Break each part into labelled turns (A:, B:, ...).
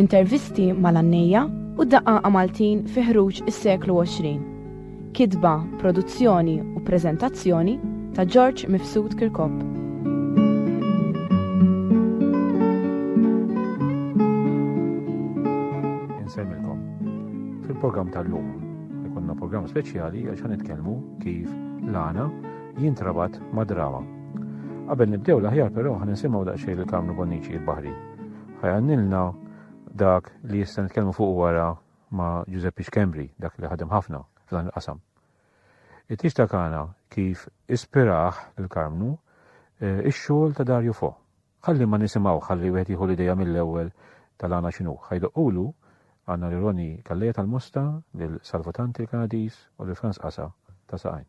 A: Intervisti mal-għannejja u d-daqqaqa Maltin fi ħruġ is-seklu 20. Kitba, produzzjoni u preżentazzjoni ta' George Mifsud Kirkop. fil-programm tal-lum. Ikonna programm speċjali għax nitkellmu kif l-għana jintrabat ma' drama. Qabel nibdew l-aħjar però ħan nisimgħu daqsxejn il-Kamru Bonnici il-Baħri Ħajannilna dak li jista' nitkellmu fuq wara ma' Ġużeppi Xkembri, dak li ħadem ħafna f'dan il-qasam. It-tix ta' Kana kif ispirah lil Karmnu eh, ix-xogħol ta' Darju Fo. Ħalli ma nisimgħu ħalli wieħed jieħu l-idea mill-ewwel tal-għana x'inhu. Ħajdoqqulu għandna lil Ronnie Kalleja tal-Mosta, lil Salvo Tanti l-Kanadiż u lil Franz Qasa ta' Saqajn.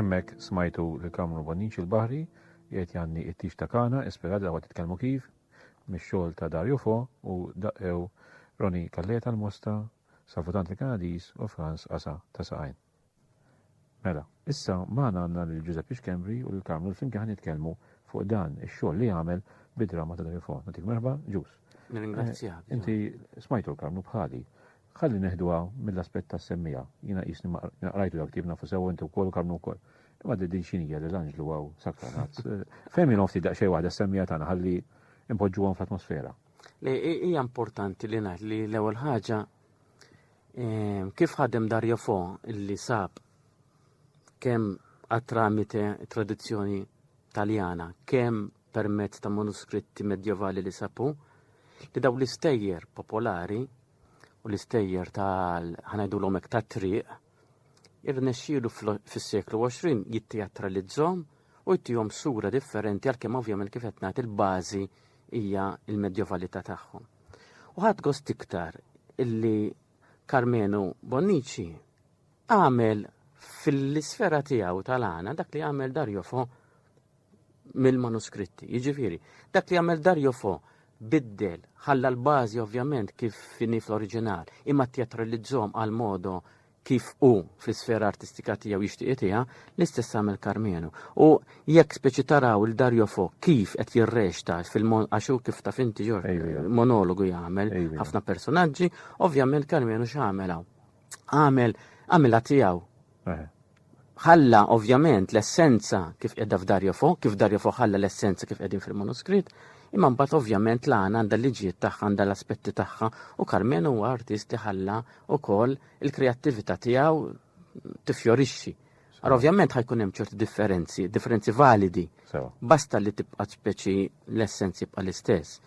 A: Hemmhekk smajtu li kamru Bonnici l-Bahri qiegħed janni it-tix ta' kana ispirata għat titkellmu kif mix-xogħol ta' Dario Fo u daqew Roni Kalleta l-Mosta sa votant li kien Adiż u Frans Qasa ta' saqajn. Mela, issa magħna għandna lil Ġużeppi Schembri u lil Carmel flimkien ħa nitkellmu fuq dan ix-xogħol li għamel bid-drama ta' Darifon. Nagħtik merħba, Ġuż. Nirringrazzjak. Eh, inti smajtu l-Karmlu bħali. Ħalli neħduha mill-aspett tas-semmija. Jiena qisni ma qrajtu dak tibna fu sew inti wkoll Karmlu wkoll. Imma din xinija li l-anġlu għaw sakranazz. Femmi nofti daqsxejn waħda s-semmija tagħna ħalli impoġġuhom fl-atmosfera. Li hija importanti li ngħid li l-ewwel ħaġa eh, kif ħadem Dario Fo li sab kemm għat-tramite tradizzjoni taljana, kemm permezz ta' manuskritti medjevali li sapu, li daw l-istejjer popolari u l-istejjer tal ħanajdulhom hekk tat-triq irnexxielu fis-seklu 20 jitteatralizzhom u jtihom sura differenti għalkemm ovvjament kif qed ngħid il-bażi hija l-medjevalità tagħhom. U ħadd gost iktar illi Karmenu Bonnici għamel fil-isfera tiegħu tal-għana dak li għamel Darjofo mill-manuskritti. Jiġifieri, dak li għamel Dario Fo biddel, ħalla l-bażi ovvjament kif fini fl-oriġinal, imma teatralizzom għal modo kif u fl-isfera artistika tiegħu jixtieq tiegħha, l-istess għamel Karmenu. U jekk speċi taraw il Dario Fo kif qed jirrexta fil-mon għaxu kif ta' finti ġor monologu jagħmel ħafna personaġġi, ovvjament Karmenu x'għamel hawn. Għamel għamilha tiegħu ħalla ovvjament l-essenza kif qiegħda f'Dario Fo, kif Dario Fo ħalla l-essenza kif qegħdin fil-manuskritt, imma mbagħad ovvjament l-għan għandha l-liġijiet tagħha, għandha l-aspetti tagħha u Carmen huwa artist li ħalla wkoll il-kreattività tiegħu tifjorixxi. Għar ovvjament ħajkun hemm ċerti differenzi, differenzi validi. Basta li tibqa' speċi l-essenzi jibqa' l-istess.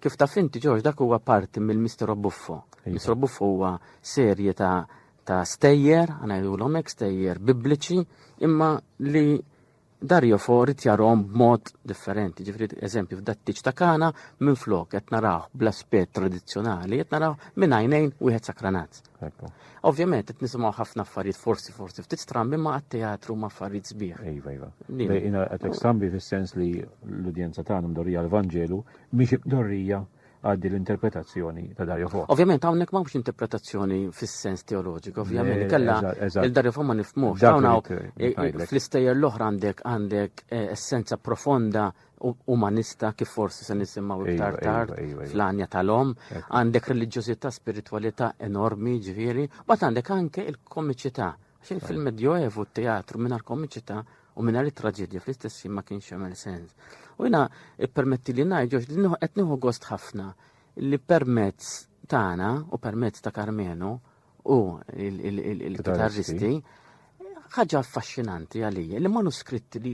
A: Kif ta' finti ġorġ dak huwa parti mill-Mister Buffo. Mister Buffo huwa serje ta' ta' stejjer, għanajdu hekk stejjer bibliċi, imma li Dario Fo rrit jarom b'mod differenti, ġifri eżempju f'dattiċ ta' kana minn flok qed naraw bl-aspett tradizzjonali qed naraw minn għajnejn wieħed sakranat. Ovvjament qed nisimgħu ħafna affarijiet forsi forsi ftit strambi ma' għat-teatru ma' affarijiet sbieħ. Iva, iva. Ina qed strambi fis-sens li l-udjenza tagħna mdorrija l-Vanġelu mhix mdorrija għaddi l-interpretazzjoni ta' Dario Fo. Ovvjament, hawnhekk m'hawnx interpretazzjoni fis-sens teoloġiku, ovvjament, kella il-Dario Fo ma nifmux. Dawn eh, eh, fl-istejjer l-oħra għandek għandek eh, essenza profonda umanista kif forsi se nisimgħu iktar tard fl-għanja tal-om, għandek reliġjożità spiritualità enormi ġifieri, bat għandek anke il-komiċità. Xejn fil-Medjoevu t-teatru minn komiċità u minna li traġedja fl-istess ma kienx jagħmel sens. U jina permetti li najġox li qed nieħu gost ħafna li permezz tagħna u permezz ta' Karmenu u il-kitarristi ħaġa affaxxinanti għalija li manuskritti li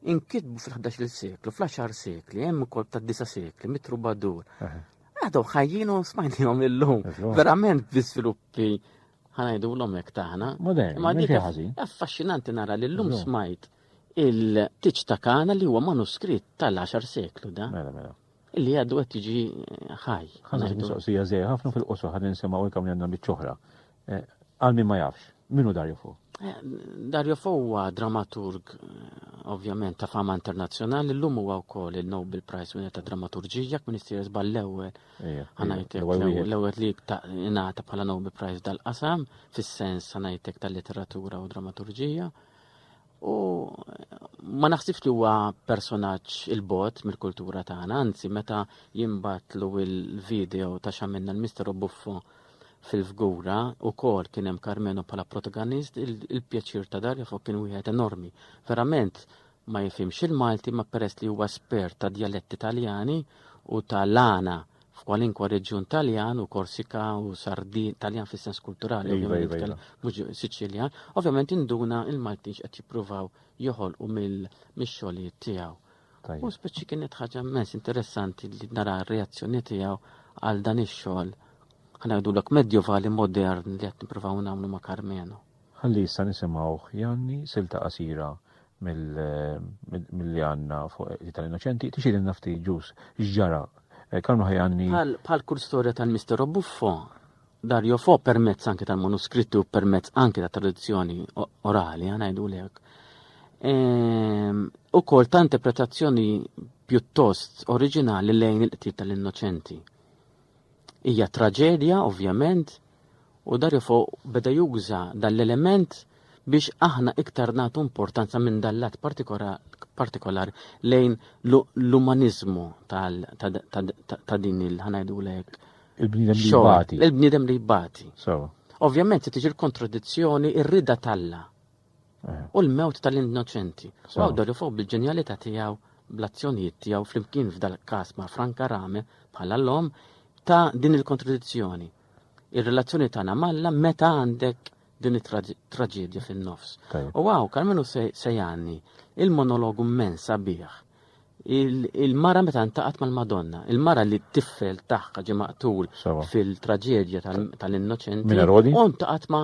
A: inkitbu fil-11 seklu, fl-10 sekli, hemm ukoll ta' disa sekli, mitru badur. Għadu ħajjinu smajnijom illum, verament bisviluppi ħanajdu l-om hekk taħna. Modern, ma dik affaxxinanti nara li l-lum smajt il-tiċ ta' kana li huwa manuskritt tal-10 seklu da. Mela, mela. Illi għaddu għed tiġi eh, ħaj. Ħanna mistoqsija zej, ħafna fil-qosor ħad nisimaw il-kam jenna bieċoħra. Eh, għal min ma jafx, minu Dario Fo? Eh, Dario Fo huwa dramaturg, ovvjament, ta' fama internazzjonali, l-lum huwa wkoll il-Nobel Prize winner ta' dramaturġija, kministir żball l-ewwel Għanajtek l-ewwel li ingħata bħala Nobel Prize dal-qasam fis-sens għanajtek tal-letteratura u dramaturġija. U ma naħsibx li huwa personaġġ il-bot mill-kultura tagħna, anzi meta jimbatlu il-video ta' xamenna l-Mister Buffo fil-fgura u kol kien hemm Carmenu bħala protagonist, il-pjaċir ta' dar jafu kien wieħed enormi. Verament, ma jifhimx il-Malti imma peress li huwa espert ta' djaletti Taljani u ta' lana f'kwalinkwa reġjun Taljan u Korsika u Sardin, Taljan fis-sens kulturali, iva, ovvjament, iva, iva. mhux Siċiljan, ovvjament induna il-Maltin x'qed jippruvaw joħolqu mill-xogħlijiet tiegħu. U speċi kienet ħaġa mens interessanti li nara r-reazzjoni tiegħu għal dan ix-xogħol ħanajdu l-ok medjovali modern li qed nippruvaw nagħmlu ma' Karmenu. Ħalli issa nisimgħuh jgħanni silta qasira mill-li għandna fuq Id tal-Innoċenti, tixililna ftit ġus x'ġara. Karmnu ħajgħanni. Bħal kull storja tal-Mister Obuffo, Dario Fo permezz anke tal-manuskritti u permezz anke ta' tradizzjoni orali, għanajdu lek. Ehm, u kol ta' interpretazzjoni pjuttost oriġinali lejn il-qtil tal-innoċenti. Hija traġedja, ovvjament, u Dario Fo beda juża dan l-element biex aħna iktar nagħtu importanza minn dan l-att partikolar lejn l-umaniżmu ta' din il-ħanajdu lek. Il-bniedem li jbati. Il-bniedem li jbati. Ovvjament se tiġi l-kontradizzjoni ir-rida talla. u l-mewt tal-innoċenti. Għawda li fuq bil-ġenjalità tiegħu bl-azzjonijiet tiegħu flimkien f'dal-każ ma' Franca Rame bħala l-omm ta' din il-kontradizzjoni. Ir-relazzjoni tagħna malla meta għandek din it-traġedja fin-nofs. U għaw, Karmenu Sejanni, il-monologu mmen sabiħ. Il-mara meta ntaqat mal-Madonna, il-mara li t-tifel taħħa ġi maqtul fil-traġedja tal-innoċenti, u ntaqat ma'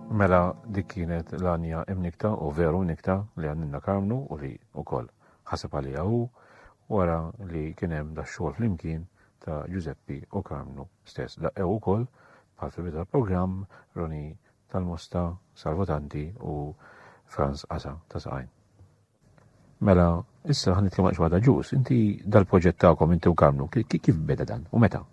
A: Mela dik kienet l-għanja imnikta u veru nikta li għanninna Karmnu u li wkoll ħaseb għaliha hu wara li kien hemm dax-xogħol flimkien ta' Ġużeppi u Karmnu stess. Daqqew ukoll bħal fil-bidu tal-programm Roni tal-Mosta, Salvo Tanti u Franz Asa ta' Saqajn. Mela, issa ħan nitkellmu xi waħda ġus, inti dal-proġett tagħkom inti u Karmnu, kif beda dan u meta?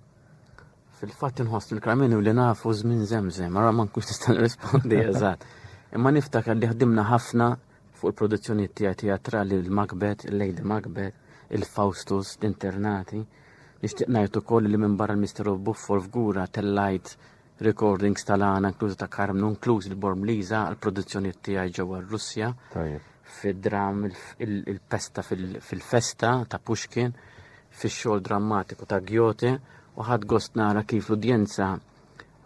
A: Fil-fatt inħoss li Karmenu li nafu żmien żemżem, ara ma nkunx nista' nirrispondi eżatt. Imma niftakar li ħdimna ħafna fuq il-produzzjoni tiegħi teatrali l-Macbeth, il-Lady Macbeth, il-Faustus, l-Internati. Nixtieq ngħid ukoll li minn barra l-Mister of Buffor f'Gura tellajt Recordings tal-għana inklużi ta' Karmnu, inkluż il-Bormliża għall-produzzjonijiet tiegħi ġewwa r-Russja. Tajjeb. Fid-dram il-pesta fil-festa ta' Pushkin, fix-xogħol drammatiku ta' Gjote u ħadd gost nara kif l-udjenza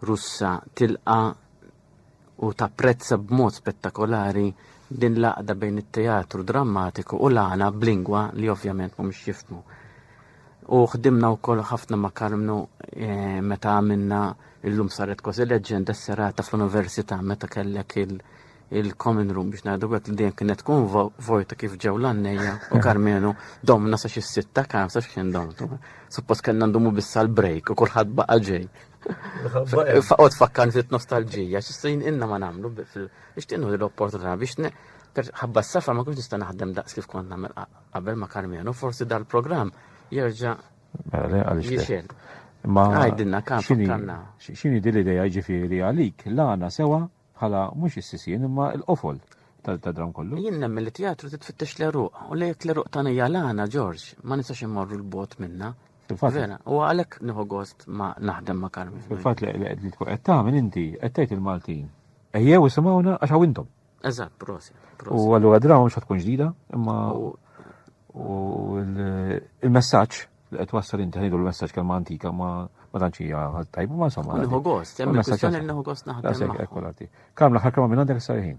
A: Russa tilqa' u tapprezza b'mod spettakolari din l-għaqda bejn it-teatru drammatiku u l-għana b'lingwa li ovvjament mhumiex jifhmu. U ħdimna wkoll ħafna ma' Karmnu eh, meta għamilna illum saret kważi leġenda s-serata fl-università meta kellek il- il-common room biex ngħidu għek li dejjem kienet tkun vojta kif ġew l-annejja u Karmenu domna sa xi sitta kam sa x'kien domtu. Suppost kellna ndumu bissa l-break u kulħadd baqa' ġej. U tfakkan fit nostalġija, xistin inna ma namlu fil ixtiqnu l-opportunità biex ħabba s-safar ma kunx nista' naħdem daqs kif kont nagħmel qabel ma' Karmenu, forsi dal-programm jerġa' jixel. Ma għajdinna kam. Xini dil-ideja ġifiri għalik, l-għana sewa Bħala mhux is-sisien imma l-qofol tad-dramm kollu. Jien nemmen li teatru titfittex l-eruq u li jekk l-eruq tagħna hija l-għana Ġorġ, ma nistax immorru l-bot minna. Fil-fatt. Vera, u għalhekk nieħu gost ma naħdem ma' Carmen. Fil-fatt li qed tkun qed tagħmel inti qed tgħid il-Maltin. Ejjew isimgħuna għax hawn intom. Eżatt, prosi. U allura draw mhux tkun ġdida, imma u il-messaġġ li qed wassal inti ħanidu l-messaġġ kelma antika ma ma tantx hija tajba ma insomma. Nieħu gost, hemm il-messaġġ li nieħu gost naħdem. Daqshekk hekk kolati. Kam l-aħħar kelma minn għandek issa ħin.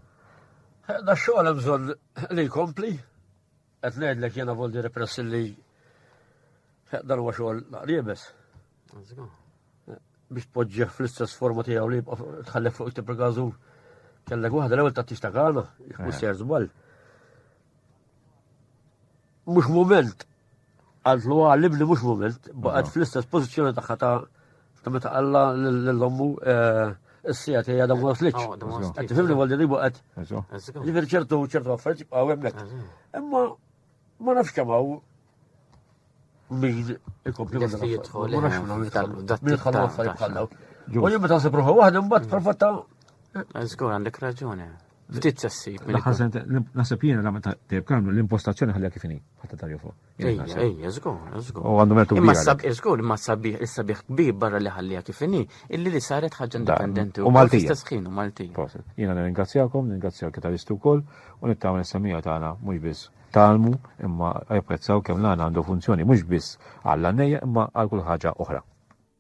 A: Da xogħol hemm bżonn li jkompli. Qed ngħidlek jiena voldi repress li dan huwa xogħol naqriebes. Biex tpoġġi fl-istess forma tiegħu li tħallef fuq iktib gażu kellek waħda l-ewwel ta' tista' għana, jekk mhux ser żball. Mhux mument. Qaltlu għal ibni mhux mument, baqgħet fl-istess pożizzjoni tagħha ta' ta' meta qalla l-ommu eh, s-sija tija da ma slitx. Għed tifimni għal din għed. Ġifir ċertu ċertu għaffariet jibqaw għemmek. Imma ma nafx kamaw min ikompli għadda. Ma nafx minna min jitħallu. Min jitħallu għaffariet bħallaw. U jibba ta' sebruħa wahda mbatt profetta. Zgur għandek raġuni. Ftit sessi. Naħseb jiena nagħmel tajb kamlu l-impostazzjoni ħallija kif inhi ħadd tarju fuq. Ejja, ejja, żgur, żgur. U għandu mertu Imma sab żgur imma sabiħ is-sabiħ kbir barra li ħallija kif inhi illi li saret ħaġa indipendenti u Malti. Stess ħin u Malti. Jiena nirringrazzjakom, nirringrazzja l-kitaristu wkoll u nittama is-semija tagħna mhux biss talmu imma japprezzaw kemm l-għana għandu funzjoni mhux biss għall-għannejja imma għal kull ħaġa oħra.